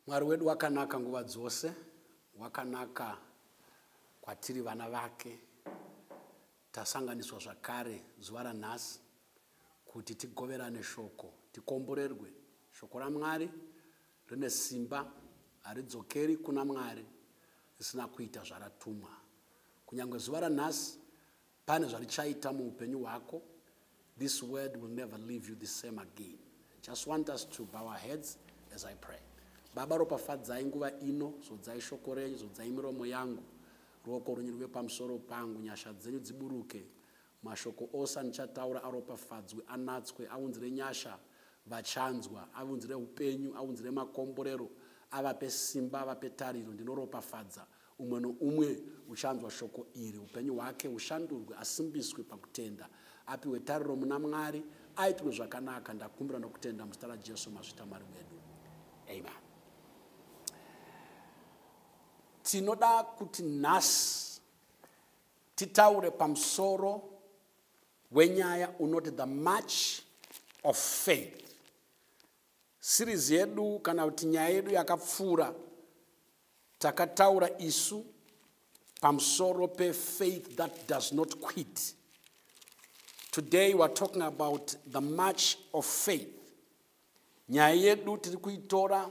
mwari wedu wakanaka nguva dzose wakanaka kwatiri vana vake tasanganiswa zvakare zuva ranhasi kuti tigoverane shoko tikomborerwe shoko ramwari Rine simba haridzokeri kuna Mwari risina kuita zvaratumwa. Kunyange zuva ranhasi pane zvarichaita muupenyu hwako. This word will never leave you the same again. Just want us to bow our heads as I pray. Baba, ropafadzai nguva ino, zodzai shoko renyu, zodzai miromo yangu, ruoko rwenyu rwuve pamusoro pangu, nyasha dzenyu dziburuke Mashoko ose andichataura aropafadzwe, anatswe, aunzire nyasha vachanzwa, aunzire upenyu, aunzire makomborero, avape simba, avape tariro. Ndinoropafadza umwe noumwe uchanzwa shoko iri, upenyu hwake hushandurwe, asimbiswe pakutenda, apiwe tariro muna Mwari, aitirwe zvakanaka. Ndakumbira nokutenda muzita raJesu mazvita Mwari wedu, amen. Tinoda kuti nhasi titaure pamusoro wenyaya unoti the march of faith series yedu kana kuti nyaya yedu yakapfuura takataura isu pamusoro pefaith that does not quit today weare talking about the march of faith nyaya yedu tiri kuitora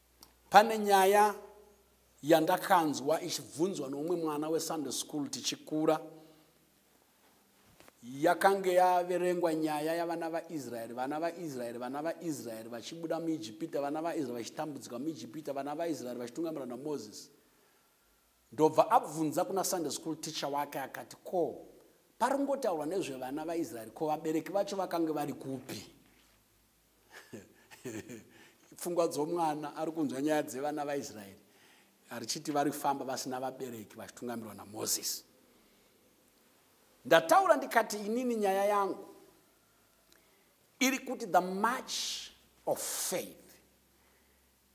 pane nyaya yandakanzwa ichibvunzwa noumwe mwana wesunday school tichikura yakange yaverengwa nyaya yavana vaisraeri vana vaisraeri vana vaisraeri vachibuda muijipita vana vaisraeri vachitambudzika muijipita vana vaisraeri vachitungamira namozisi ndobva abvunza kuna sunday school teacher wake akati ko paringotaurwa nezvevana vaisraeri ko vabereki vacho vakange vari kupi pfungwa dzomwana ari kunzwa nyaya dzevana vaisraeri arichiti vari kufamba vasina vabereki vachitungamirwa namozisi ndataura ndikati inini nyaya yangu iri kuti the march of faith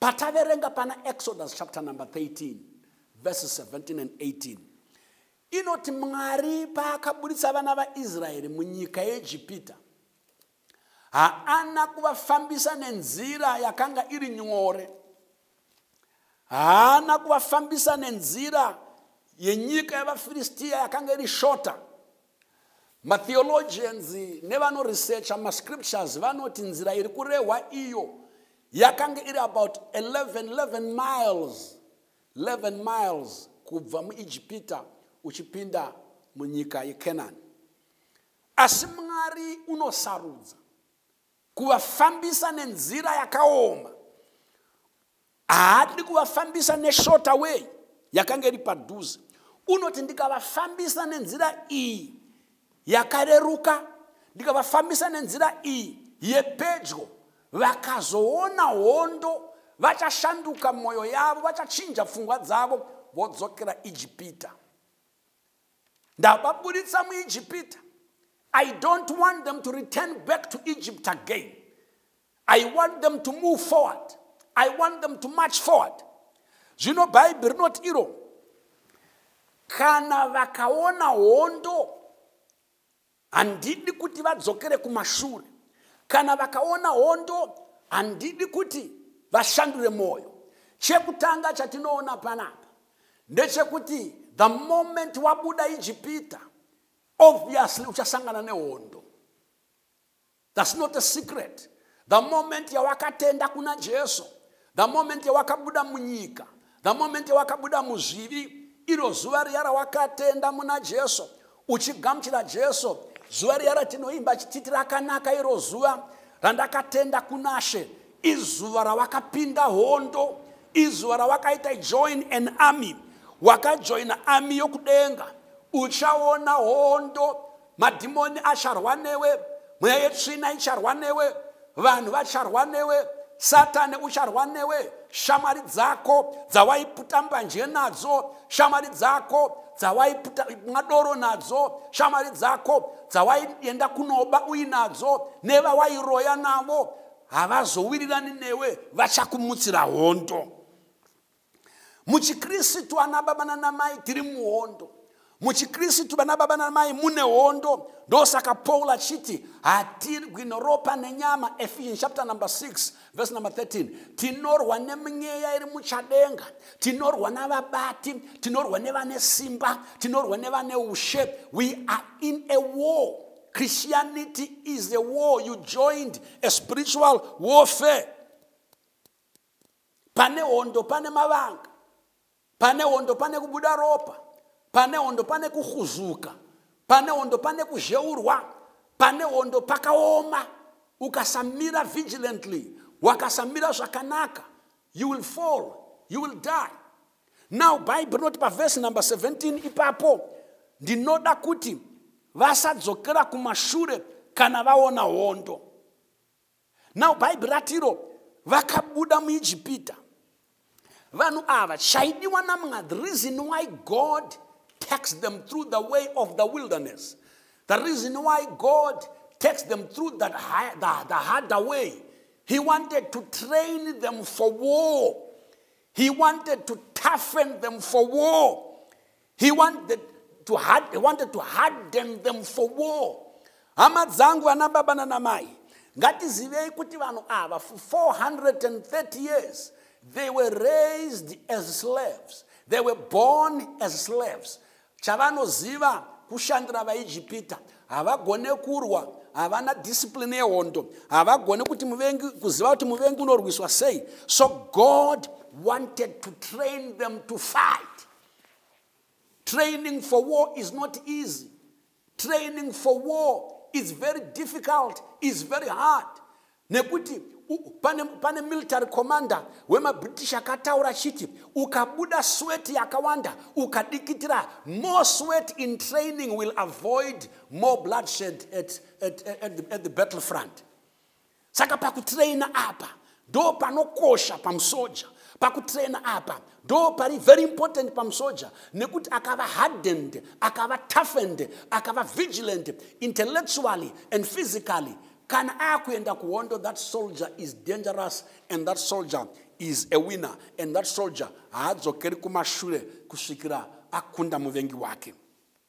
pataverenga pana exodus chapter number 13 verses 17 and 18 inoti mwari paakaburitsa vana vaisraeri munyika yeegipita haana kuvafambisa nenzira yakanga iri nyore haana kuvafambisa nenzira yenyika yevafiristiya yakanga iri shota matheologians nevanoresearcha mascriptures vanoti nzira iri kurehwa iyo yakange iri about 11 11 miles 11 miles kubva muijipita uchipinda munyika yecanani asi mwari unosarudza kuvafambisa nenzira yakaoma haadi kuvafambisa neshort away yakanga iri padhuze unoti ndikavafambisa nenzira iyi yakareruka ndikavafambisa nenzira iyi yepedyo vakazoona hondo vachashanduka mwoyo yavo vachachinja pfungwa dzavo vodzokera ijipita ndavaburitsa muijipita i don't want them to return back to egypt again i want them to move forward i want them to march forward zvino bhaibhi rinoti iro kana vakaona hondo handidi kuti vadzokere kumashure kana vakaona hondo handidi kuti vashandure mwoyo chekutanga chatinoona panapa ndechekuti the moment wabuda ijipita obviously uchasangana nehondo That's not a secret. The moment yawakatenda kuna Jesu, the moment yawakabuda munyika, the moment yawakabuda muzvivi, iro zuva riya rawakatenda muna Jesu, uchigamuchira Jesu, zuva riya ratinoimba chititi rakanaka iro zuva randakatenda kunashe, izuva rawakapinda hondo, izuva rawakaita join an army, wakajoina army yokudenga, uchaona hondo madhimoni acharwa newe mweya yetsvina icharwa newe vanhu vacharwa newe satani ucharwa newe shamwari dzako dzawaiputa mbanje nadzo shamwari dzako dzawaiputa madoro nadzo shamwari dzako dzawaienda kunoba uinadzo nevawairoya navo havazowirirani newe vachakumutsira hondo muchikristu ana baba nanamai tiri muhondo muchikristu vana baba nanamai mune hondo ndosaka paul achiti hatirwi neropa nenyama ephesians chapter number 6 verse number 13 tinorwa nemweya iri muchadenga tinorwa navabati tinorwa nevane simba tinorwa nevane ushe we are in a war christianity is a war you joined a spiritual warfare pane hondo pane mavanga pane hondo pane kubuda ropa pane hondo pane kuhuzuka pane hondo pane kuzheurwa pane hondo pakaoma ukasamira vigilantly wakasamira zvakanaka you will fall you will die now bhaibheri rinoti pavhesi number 17 ipapo ndinoda kuti vasadzokera kumashure kana vaona hondo now bhaibhi ratiro vakabuda muijipita vanhu ava chaidiwa namwa the reason why god takes them through the way of the wilderness the reason why god takes them through that high, the, the harder way he wanted to train them for war he wanted to toughen them for war he wanted to, hard, he wanted to harden them for war hama dzangu vana baba nanamai ngatizivei kuti vanhu ava for 430 years they were raised as slaves they were born as slaves chavanoziva kushandira vaijipita havagone kurwa havana discipline yehondo havagone kuti muvengi kuziva kuti muvengi unorwiswa sei so god wanted to train them to fight Training for war is not easy. Training for war is very difficult, is very hard. Nekuti pane, pane military commander wemabritish akataura chiti ukabuda sweat yakawanda ukadikitira more sweat in training will avoid more bloodshed at, at, at, at, the, at the battle front saka pakutraina apa ndo panokosha pamusoja pakutraina apa ndo pari very important pamusoja nekuti akava hardened akava toughened akava vigilant intellectually and physically kana akuenda kuhondo that soldier is dangerous and that soldier is a winner and that soldier haadzokeri kumashure kusvikira akunda muvengi wake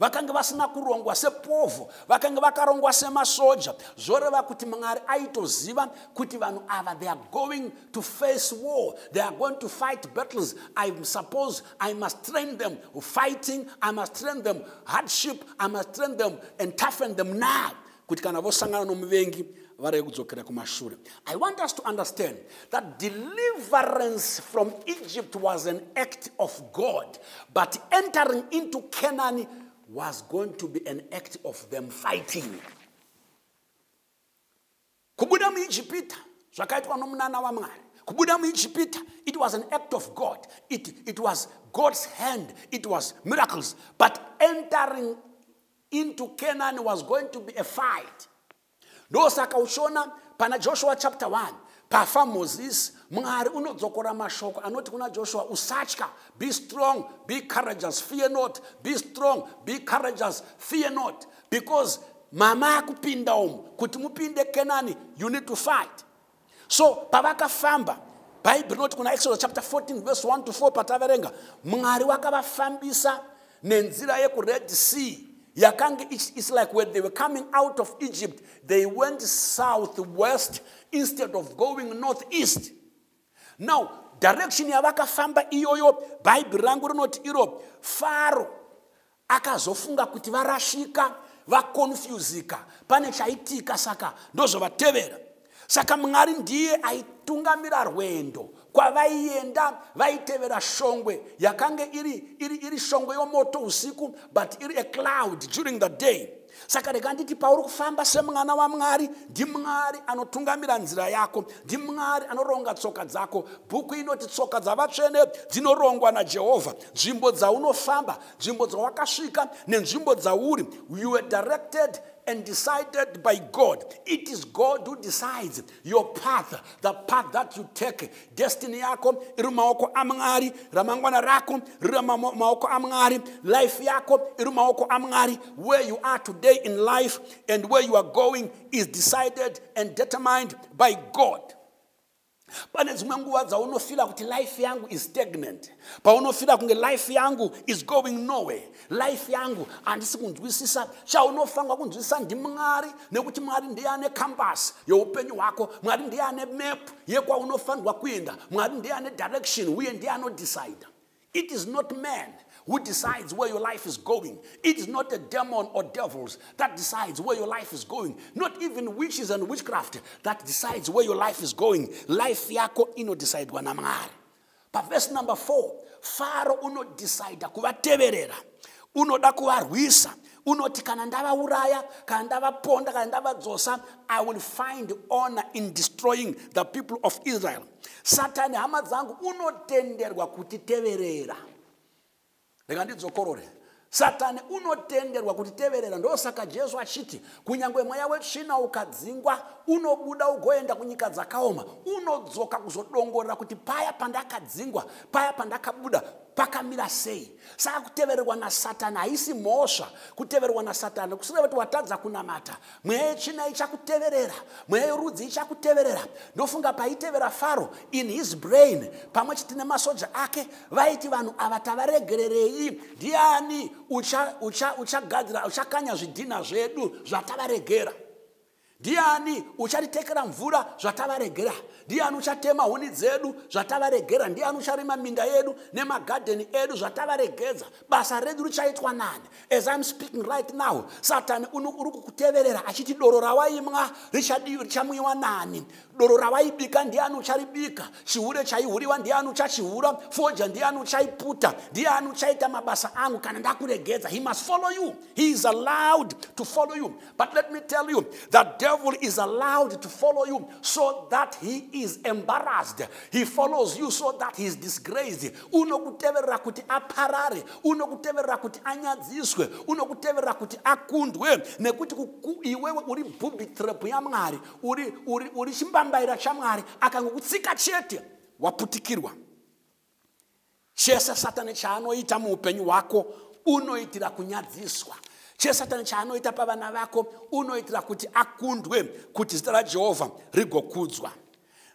vakange vasina kurongwa sepovho vakange vakarongwa semasoja zvoreva kuti mwari aitoziva kuti vanhu ava they are going to face war they are going to fight battles i suppose i must train them fighting i must train them hardship i must train them and toughen them now kuti kana vosangana nomuvengi varege kudzokera kumashure i want us to understand that deliverance from egypt was an act of god but entering into canaan was going to be an act of them fighting kubuda muijipita zvakaitwa nomunana wamwari kubuda muijipita it was an act of god it, it was god's hand it was miracles but entering into canaan was going to be a fight ndosaka uchiona pana joshua chapter 1 pafa mozisi mwari unodzokora mashoko anoti kuna joshua usatya be strong be courageous fear not be strong be courageous fear not because mama akupinda umu kuti mupinde kenani you need to fight so pavakafamba bhaibheri rinoti kuna exodus chapter 14 verse 1 to 4 pataverenga mwari wakavafambisa nenzira yekured sea yakange its like when they were coming out of egypt they went south west instead of going north east now direction yavakafamba iyoyo bhaibheri rangu rinoti iro faro akazofunga kuti varashika vakonfyuzika pane chaitika saka ndozvovatevera saka mwari ndiye aitungamira rwendo kwavaienda vaitevera shongwe yakange iri, iri, iri shongwe yomoto usiku but iri a cloud during the day saka rega nditi pauri kufamba semwana wamwari ndimwari anotungamira nzira yako ndimwari anoronga tsoka dzako bhuku inoti tsoka dzavatsvene dzinorongwa najehovha nzvimbo dzaunofamba nzvimbo dzawakasvika nenzvimbo dzauri you were directed and decided by god it is god who decides your path the path that you take destiny yako iri mumaoko amwari ramangwana rako riri mumaoko amwari life yako iri mumaoko amwari where you are today in life and where you are going is decided and determined by god pane dzimwe nguva dzaunofila kuti life yangu is stagnant paunofila kunge life yangu is going nowhere life yangu handisi kunzwisisa chaunofanirwa kunzwisisa ndimwari nekuti mwari ndiye ane kambasi yeupenyu hwako mwari ndiye ane map yekwaunofanirwa kuenda mwari ndiye ane direction uye ndiye anodecide it is not man who decides where your life is going. It is not a demon or devils that decides where your life is going. Not even witches and witchcraft that decides where your life is going. Life yako ino decide wanamari. pavhesi number 4 faro unodhisaidha kuvateverera unoda kuvarwisa unoti kana ndavauraya kana ndavaponda kana ndavadzosa i will find honor in destroying the people of israel satani hama dzangu unotenderwa kutiteverera rega ndidzokorore satani unotenderwa kutiteverera ndosaka jesu achiti kunyange mweya wetsvina ukadzingwa unobuda ugoenda kunyika dzakaoma unodzoka kuzodongorera kuti paya pandakadzingwa paya pandakabuda pakamira sei saka kutevererwa nasatani haisi mhosva kutevererwa nasatani kusireva kuti watadza kunamata mweya yechina ichakuteverera mweya yorudzi ichakuteverera ndofunga paitevera faro in his brain pamwe chete nemasoja ake vaiti vanhu ava tavaregererei ndiani uchagadzira uchakanya zvidhinha zvedu zvatavaregera ndiani uchatitekera mvura zvatavaregera ndiani uchatema huni dzedu zvatavaregera ndiani ucharima minda yedu nemagadheni edu zvatavaregedza basa redu richaitwa nani as im speaking right now satani uri kukuteverera achiti doro rawaimwa richamwiwa nani doro rawaibika ndiani ucharibika chihure chaihuriwa ndiani uchachihura foja ndiani uchaiputa ndiani uchaita mabasa angu kana ndakuregedza he must follow you he is allowed to follow you But let me tell you, the devil is allowed to follow you so that he is embarrassed. He follows you so that he is disgraced. Unokuteverera kuti aparare, unokuteverera kuti anyadziswe, unokuteverera kuti akundwe nekuti iwewe uri booby trap yaMwari, uri uri uri chimbambaira chaMwari akangokutsika chete waputikirwa. chese satani chaanoita muupenyu hwako unoitira kunyadziswa chese satani chaanoita pavana vako unoitira kuti akundwe kuti zita rajehovha rigokudzwa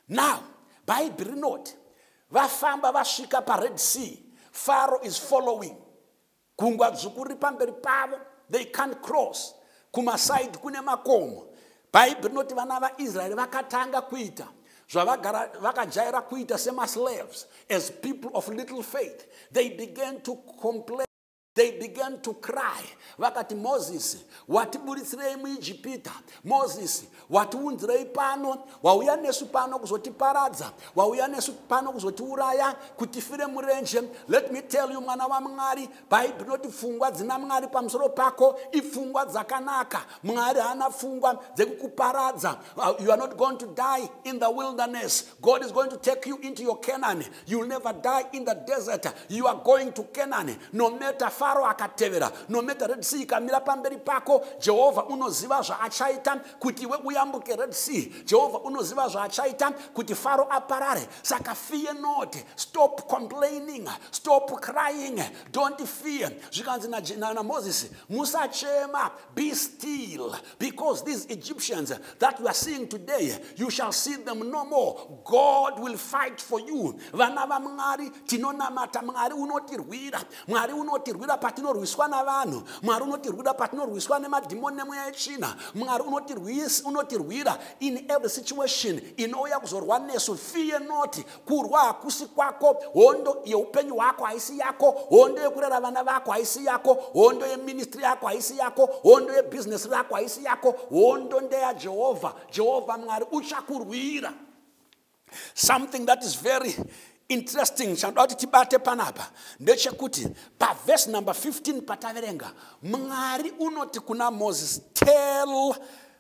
now bhaibheri rinoti vafamba vasvika pared sea faro is following Gungwa dzvuku riri pamberi pavo, they can't cross. Kumasaidi kune makomo. Bhaibheri rinoti vana vaIsraeri vakatanga kuita zvavagara vakajaira kuita semaslaves as people of little faith. They began to complain. They began to cry. Vakati, Mozisi, watiburitsirei muIjipita. Mozisi, watiunzirei pano wauya nesu pano kuzotiparadza wauya nesu pano kuzotiuraya kutifire murenje let me tell you mwana wamwari bhaibheri noti pfungwa dzina mwari pamusoro pako ipfungwa dzakanaka mwari haana pfungwa dzekukuparadza uh, you are not going to die in the wilderness god is going to take you into your canaan You'll never die in the desert. You are going to Canaan. No matter Pharaoh akatevera, no matter Red Sea ikamira pamberi pako, Jehovah unoziva zvaachaita kuti iwe uyambuke Red Sea. Jehovah unoziva zvaachaita kuti Pharaoh aparare. Saka fear not. Stop complaining. Stop crying. Don't fear. Zvikanzi na, na, na Moses, musachema. Be still. Because these Egyptians that you are seeing today, you shall see them no more. God will fight for you. Vana va Mwari tinonamata Mwari unotirwira. Mwari unotirwira patinorwiswa navanhu. Mwari unotirwira patinorwiswa nemadhimoni nemweya yetsvina. Mwari unotirwira in every situation inouya kuzorwa nesu. Fear not kurwa hakusi kwako hondo yeupenyu hwako haisi yako hondo yekurera vana vako haisi yako hondo yeministri yako haisi yako hondo yebhizinesi rako haisi yako hondo ndeyajehovha jehovha mwari uchakurwira something that is very interesting chandoda kuti tibate panapa ndechekuti pavhesi number 15 pataverenga mwari unoti kuna moses tell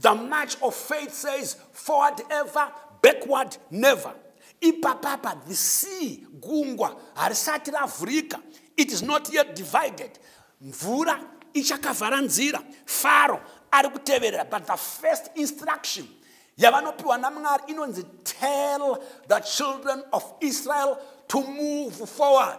the march of faith says forward ever backward never ipapapa the sea gungwa harisati ravhurika it is not yet divided mvura ichakavhara nzira faro ari kuteverera but the first instruction yavanopiwa namwari inonzi tell the children of israel to move forward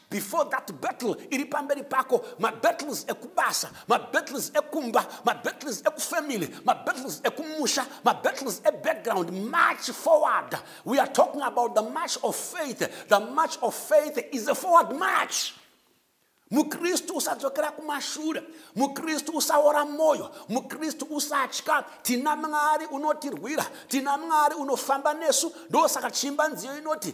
before that battle iri pamberi pako mabattles ekubasa mabattles ekumba mabattles ekufamily mabattles ekumusha mabattles ebackground march forward we are talking about the march of faith the march of faith is a forward march mukristu usadzokera kumashure mukristu usaora mwoyo mukristu usatya tina mwari unotirwira tina mwari unofamba nesu ndosaka chimba nziyo inoti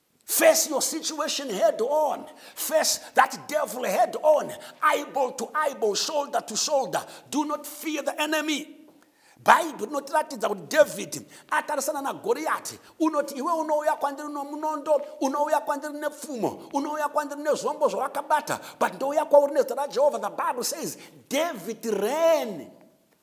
Face your situation head on. Face that devil head on. Eyeball to eyeball, shoulder to shoulder. Do not fear the enemy. bhaibheri rinotiratidza kuti dhavhidhi atarisana nagoriyati unoti iwe unouya kwandiri nomunondo unouya kwandiri nepfumo unouya kwandiri nezvombo zvawakabata but ndouya kwauri nezita rajehovha the bible says david ran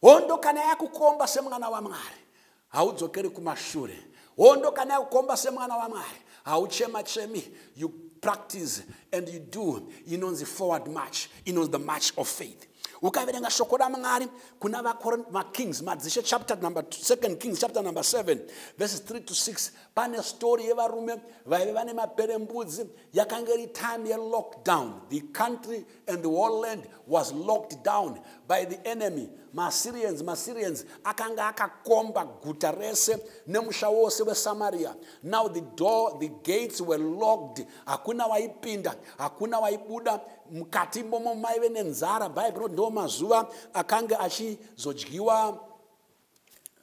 hondo kana yakukomba semwana wamwari haudzokeri kumashure hondo kana yakukomba semwana wamwari hauchema chemi you practice and you do inonzi forward march inonzi the march of faith ukaverenga shoko ramwari kuna vakings madzishe chapter number 2 kings chapter number 7 verses 3 to 6 pane story yevarume vaive vane maperembudzi yakanga iri time yelockdown the country and the whole land was locked down by the enemy maassyrians maassyrians akanga akakomba guta rese nemusha wose wesamaria now the door the gates were locked hakuna waipinda hakuna waibuda mukati momo maive nenzara bhaibheri ndo mazuva akanga achizodyiwa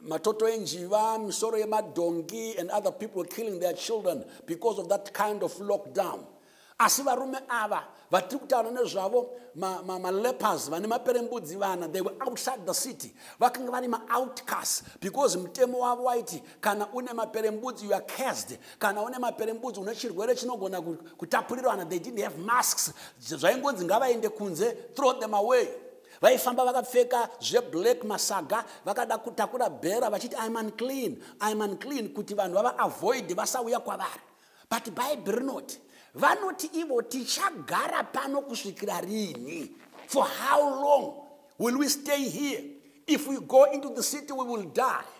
matoto enjiva misoro yemadhongi and other people killing their children because of that kind of lockdown asi varume ava vatiri kutaura nezvavo malepers vane maperembudzi vana they were outside the city vakanga vari maoutcast because mutemo wavo waiti kana une maperembudzi you are cased kana une maperembudzi une chirwere chinogona kutapurirwana they didn't have masks zvaingonzi ngavaende kunze throw them away vaifamba vakapfeka zveblack masaga vakada kutakura bhera vachiti im unclean im unclean kuti vanhu vavaavoid vasauya kwavari but bhaibheri rinoti vanoti ivo tichagara pano kusvikira rini for how long will we stay here if we go into the city we will die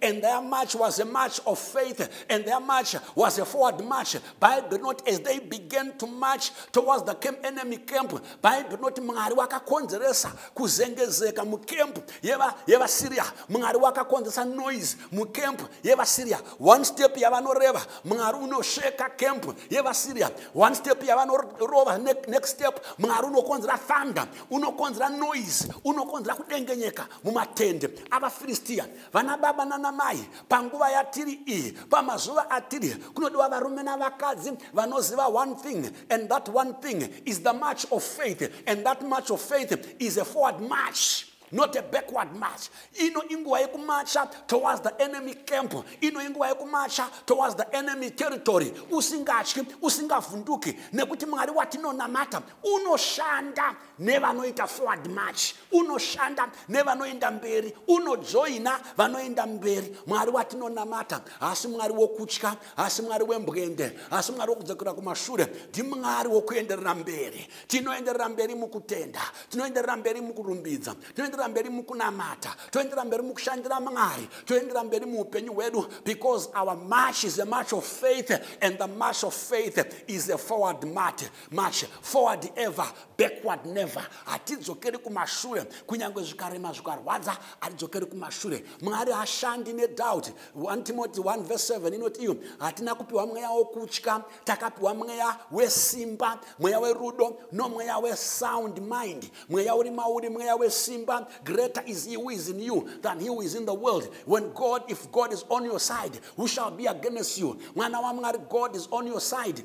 and their march was a march of faith, and their march was a forward march. Bible not as they began to march towards the camp, enemy camp. Bible not mwari wakakonzeresa kuzengezeka mukemp yevasyria mwari wakakonzeresa noise mukemp yevasyria one step yavanoreva mwari unosheka camp yevasyria one step yavanorova next step mwari unokonzera thunder unokonzera noise unokonzera kudengenyeka mumatende avafiristia vana baba nana mai panguva yatiri iyi pamazuva atiri kunodiwa varume navakadzi vanoziva one thing and that one thing is the march of faith and that march of faith is a forward march not a backward march ino inguva yekumacha towards the enemy camp ino inguva yekumacha towards the enemy territory usingatyi usingavhunduki nekuti mwari watinonamata unoshanda nevanoita forward march unoshanda nevanoenda mberi unojoina vanoenda mberi mwari watinonamata hasi mwari wokutya hasi mwari wembwende hasi mwari wokudzokera kumashure ndimwari wokuenderera mberi tinoenderera mberi mukutenda tinoenderera mberi mukurumbidza tinoenderera mberi mukunamata toenderera mberi mukushandira mwari toenderera mberi muupenyu hwedu because our march is a march of faith and the march of faith is a forward march march forward ever backward never hatidzokeri kumashure kunyange zvikarema zvikarwadza hatidzokeri kumashure mwari hashandi nedoubt 1 timoti 1 verse 7 inoti iyo hatina kupiwa mweya wokutya takapiwa mweya wesimba mweya werudo nomweya wesound mind mweya uri mauri mweya wesimba greater is he who is in you than he who is in the world when god if god is on your side who shall be against you mwana wamwari god is on your side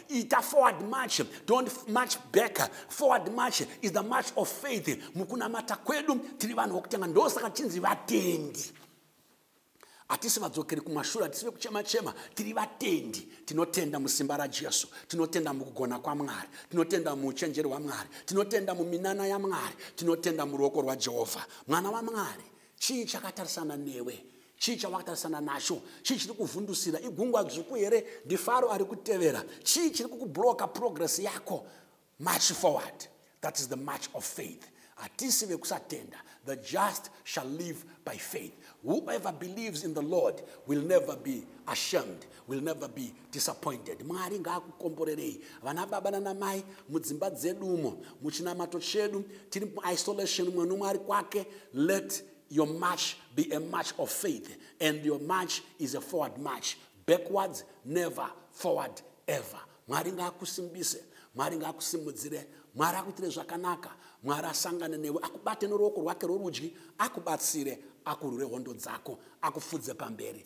ita forward march don't march back forward march is the march of faith mukunamata kwedu tiri vanhu vokutanga ndosaka chinzi vatendi hatisi vadzokeri kumashure hatisi vekuchema chema tiri vatendi tinotenda musimba rajesu tinotenda mukugona kwamwari tinotenda muuchenjeri hwamwari tinotenda muminana yamwari tinotenda muruoko rwajehovha mwana wamwari chii chakatarisana newe chii chawakatarisana nacho chii chiri kuvhundusira igungwa dzvuku here ndifaro ari kutevera chii chiri kukubloka progress yako march forward that is the march of faith hatisi vekusatenda the just shall live by faith whoever believes in the lord will never be ashamed will never be disappointed mwari ngaakukomborerei vana baba nanamai mudzimba dzedumo muchinamato chedu tiri muisolation mwe nomwe ari kwake let your march be a march of faith and your march is a forward march backwards never forward ever mwari ngaakusimbise mwari ngaakusimudzire mwari akuitire zvakanaka mwari asangane newe akubate noruoko rwake rworudyi akubatsire akurwire hondo dzako akufudze pamberi